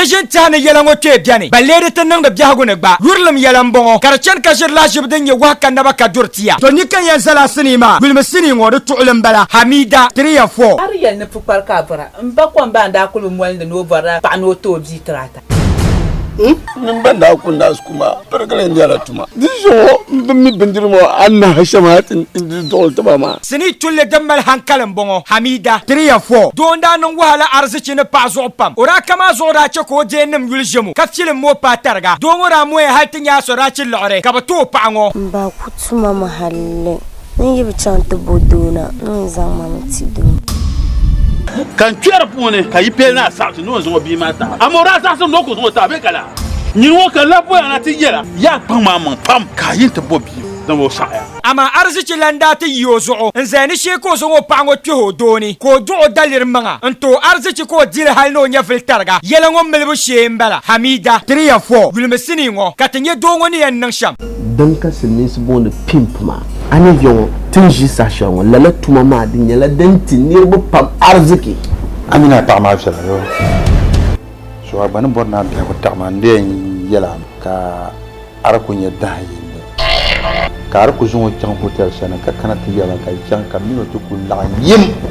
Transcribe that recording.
Ti ʒini tɛha ni yɛla ŋɔ kpee bɛni, ban leei di ti niŋdi biɛhigu ni gba. Yurilim yɛla m-bɔŋɔ, ka di chani ka ʒiri lahiʒibu din nyɛ wahu ka naba ka duri ti ya. To ni ka yɛn zali a sinii maa, gulimi sinii ŋɔ, di tuɣili m-bala, Hamida, three and four. Ari yɛli ni pukpari ka a vɔra. M ba Kɔmbaa n-daa kuli bi moli ni ni o vɔrila paɣa ni o ti o bia tiri ata. N ni m ba n-daa kuli. Tuma birigili nyɛla tuma. Di zuɣu n bin mi bindiri ŋɔ anahi shɛŋa ti di duɣili tiba maa. Sinii tulli din mali hankali m-bɔŋɔ, Hamida. Tiriya fɔ. Doo n-daa niŋ wahala arzichi ni paɣa zuɣu pam. O daa ka maa zuɣu daa chɛ ka o deennim yuli ʒem o, ka filim mooi paai tariga. Doo ŋɔ daa moya hali ti nya Asorachi liɣiri, ka bi ti o paɣa ŋɔ. M ba ku tuma mi halli. Amaa arzichi lan daa ti yi o zuɣu n-zaya ni shee ka o zaŋ o paɣa ŋɔ kpɛh o doo ni, ka o duɣ o daliri maŋa n-tooi arzichi ka o di li hal ni o nyɛvili tariga. Yɛla ŋɔ milibu shee m-bala, Hamida! Ti ni yɛn fɔ yulimi sinii ŋɔ ka ti nya doo ŋɔ ni yɛn niŋ shɛm. Din ka Silimiinsi booni pimp maa. A ni nya ŋɔ ti ni ʒi saha shɛli ŋɔ, lala tuma maa di nyɛla din ti niriba pam ariziki. A mini a paɣa maa viɛla yoo. So a gba ni bɔri ni a biɛhigu taɣi ma n di yɛn yɛla ka a di ku nyɛ dahin yindi ka a di ku zaŋ o chaŋ hotel shɛli ni ka kana ti yɛba ka chaŋ ka mini o ti ku laɣim yim.